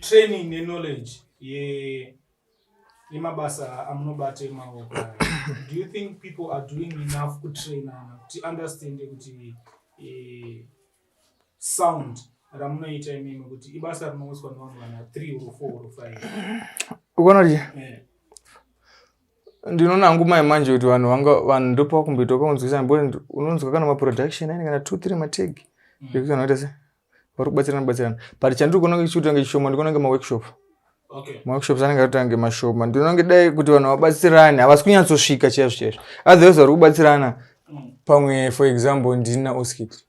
training neknowledge yemabasa amunobata emaoko do you think people are doing enough kutrainana kuti understande kuti eh, sound ramunoita imimi kuti ibasa rinouswa nevamwe vana three or four or five ukona kuti eh. ndinoona hangu mai manje kuti vanhu vanga vanhu ndopakumboitoka kunzwisa mboti unonzwa kana maproduction aine kana two three mategi mm. ekuti vanoita se vari kubatsirana batsirana but chandiri kuona kunge chichiita kunge chishoma ndikuona kunge maworkshop okay. maworkshops anenge arita kunge mashoma ndinoona kunge dai kuti vanhu vabatsirane havasi kunyatsosvika chaizvo chaizvo otherwise vari kubatsirana mm. pamwe for example ndini naoskit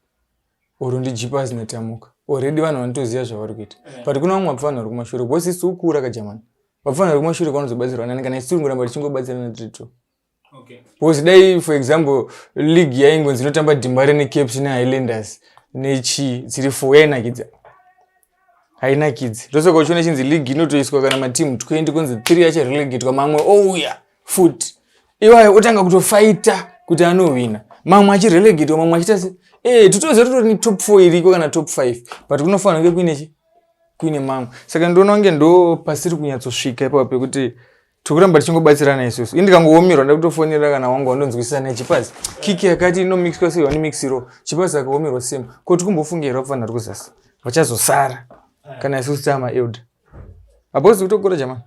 or ndijipa asina tamuka already vanhu vanotoziva zvavari kuita eh. but kuna vamwe vapfanhu vari kumashure because isi ukura kajamani vapfanhu vari kumashure kwanozobatsirwa nani kana isi tiri kuramba tichingobatsirana tiri two okay. because dai for example league yaingonzi inotamba dimare necaps nehighlanders nechii dziri four yainakidza hainakidzi ndosoka uchiona chinzi league inotoiswa kana matimu 20 kunzi 3 achirelegetwa mamwe ouya oh, fut iwayo otanga kutofaita kuti anohwina mamwe achirelegetwa mamwe achita se e titoziva totori netop 4 iriko kana top 5 but kunofanira kunge kuine chi kuine mamwe saka ndoona kunge ndo pasiri kunyatsosvika ipapo pekuti tikuramba tichingobatsirana isusu indikangoomirwa nda kutofonera kana wangu wandonzwisisa naye chipazi kiki yakati inomixwa sei wanomixiro chipazi akaomerwa same ko tikumbofungeirwa kufanira kuzasi vachazosara kana isusu tama elder hapozi kutokura jamani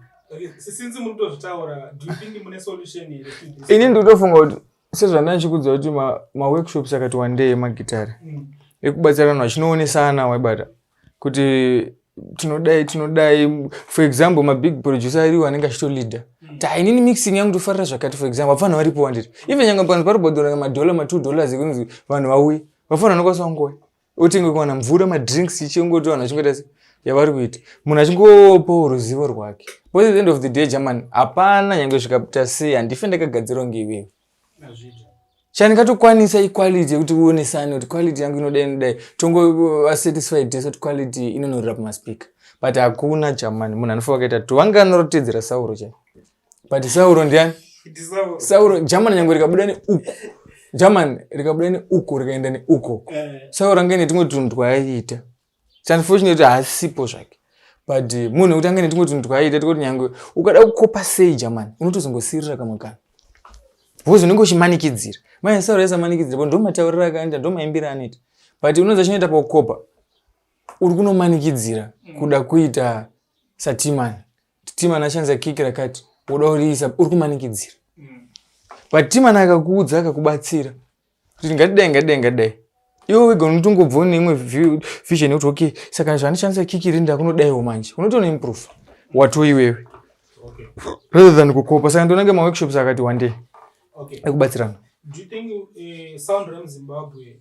ini ndikutofunga kuti sezvandanga ndichikudza kuti maworkshops ma akati wandei magitare mm. ekubatsira vanhu vachinoonesana waibata kuti tinodai tinodai for example mabig producer ariwo anenge achitolida mm. ta inini mixing yangu tofarira zvakati for example vafana varipo wandiri even nyanga panzi paribhodhora madhola matwo dollars ekunzi vanhu vauye vafana vanokwanisa kungoi otenge kuwana mvura madrinks ichingoti vanhu vachingoita se yavari kuita munhu achingopawo ruzivo rwake bcause the end of the day german hapana nyange svikaita sei handife ndakagadzirwa ngeiwewe chandingatokwanisa iquality yekuti uonesane kuti quality yangu inodai inodai tongovasatisfied tese kuti quality inonorira pamaspika but hakuna german munhu anofa vakaita to vange anorotedzera sauro chai but sauro ndiani sauro german nyange rikabuda neuku german rikabuda neuku rikaenda neuko eh. sauro ange netumwe tunhu twaiita unfortunately haasipo zvake but eh, munhu wekuti ange netumwe tunhu twaiita tikuti nyange ukada kukopa sei german unotozongosirira kamwe kana because unenge uchimanikidzira mai sauro yasamanikidzira bo ndomataurira akaenda ndomaimbira anoita but unoza chinoita pakukopa uri kunomanikidzira kuda kuita satimani Timan achanza kiki rakati woda kuriisa uri kumanikidzira but Timan akakuudza akakubatsira kuti ngatidai ngatidai ngatidai iwe wega unotongobva une imwe vision yekuti okay saka zvandishandisa kiki iri ndakunodaiwo manje unotoona improve wato iwewe rather than kukopa saka ndonange maworkshops akati wandei ekubatsirana Do you think uh, Sound Ram Zimbabwe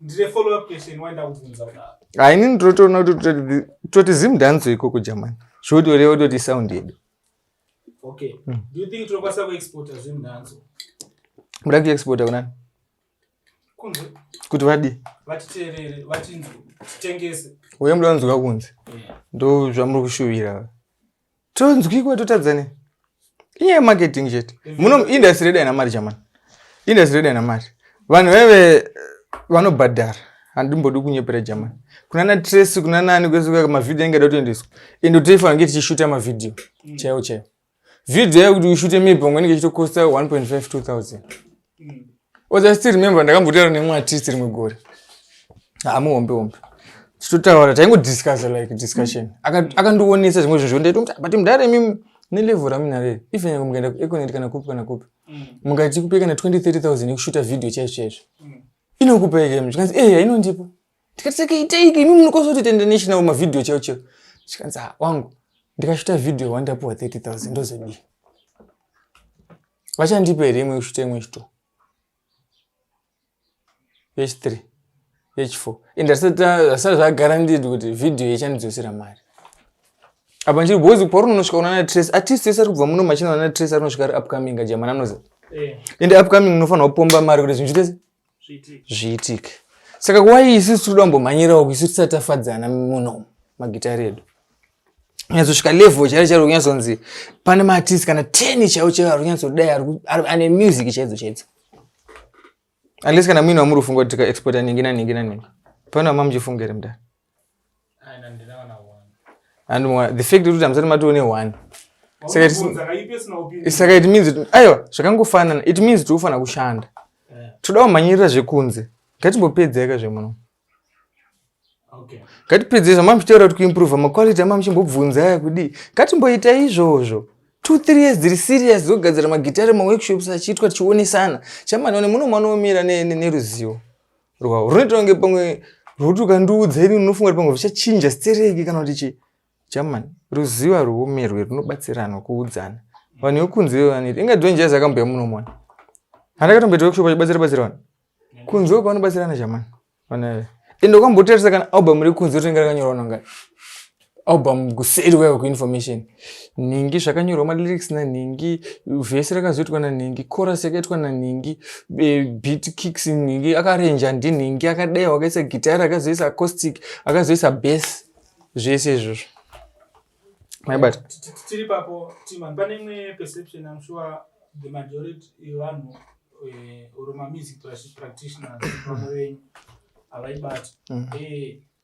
ndine follow up question waenda kubvunza kudaro haini ndinotoona kuti toti zim danzo ikoko jamani zvotoreva toti sound yedu okay mm. do you think tinokwanisa kuexporta zim danzo muda kuexporta kunani kunze kuti vadii vatiteerere vatinzwe titengese uye muda kunzwa kunze ndo zvamuri kushuvira tonzwikwa totadza ne inyaya yemarketing chete muno industry yedu haina mari chamani industry yedu haina mari vanhu vaive vanobhadhara handimbodi kunyepera jamani kuna na trace kuna nani kwese kwaka mavhidhiyo ange ada kutoendeswa ende toifanira kunge tichishuta mavhidhiyo mm. chaiwo chaiwo vhidhiyo yakuti ushute maybe pamwe inenge ichitokosta 1.5 2000 oza still remember ndakambotaura nemwe artist rimwe gore hamuhombe hombe tichitotaura taingodiscussa like discussion akandionesa zvimwe zvinhu zvondaitomuti but mudare mimi nelevel raminareri even yange mukaenda kueconet kana kupi kana kupi mm. mukati kupe kana 20 30 000 yekushuta video chaizvo chaizvo mm. inokupa ekm zvikanzi e eh, hainondipa tikati saka iteiki imi munokosoti tenda national mavideo chaiwo chaiwo zvikanzi ha ah, wangu ndikashuta video wandapuwa 30 000 ndozodii vachandipa here imwe kusvita imwe chito yechithree yechifour and asati zvagara ndidi kuti vhidhiyo ichandidzosera mari apa ndiri bhozi paunonosvika unana trace atist ese ari kubva muno machina unana trace arinosvika ari upcoming ajamana anozi eh. and upcoming unofanira kupomba mari kuti zvinhu zvitese zviitike saka wai isu tinoda kumbomhanyirawo isu tisati tafadzana muno magitari edu nyatsosvika level chairo chairo kunyatsonzi pane maartist kana ten chaiwo chaiwo ari kunyatsodai ane music chaidzo chaidzo unless kana muine wamuri kufunga kuti tikaexporta ningi naningi naningi pane wamamuchifunga here mudari and the fact kuti hamusati matione one saka it means aiwa zvakangofanana it means tiri kufanira kushanda eh. toda kumhanyirira zvekunze ngatimbopedzeka zvemuno ngatipedzei zvamamuchitaura kuti kuimprova maquality amamuchimbobvunza aya kudii ngatimboita izvozvo two three years dziri serious dzogadzira magitare maworkshops achiitwa tichionesana chamani one muno mwanomira neruzivo ne, ne rwavo runoita kunge pamwe rwoti ukandiudza ini unofunga kuti pamwe zvichachinja stereki kana kuti chii german ruziva rwoumerwe runobatsirana kuudzana vanhu yokunze vaniti inga dwenje yazi akambuya munomona handakatomboita workshop achibatsira batsira vanhu kunze ko kwavanobatsirana german vanhu ende ukambotarisa kana album rekunze yotonge rakanyorwa nongani album kuseri wewe kuinformation nhingi zvakanyorwa malyrics nanhingi vhesi rakazoitwa nanhingi coras yakaitwa nanhingi beat kicks nhingi akarenja ndinhingi akadaiwa akaisa gitari akazoisa acoustic akazoisa base zvese izvozvo maibata tiri papo timan pane imwe perception im sure the majority yevanhu eh, or mamusic practitioners vamwe venyu havaibati mm. eh,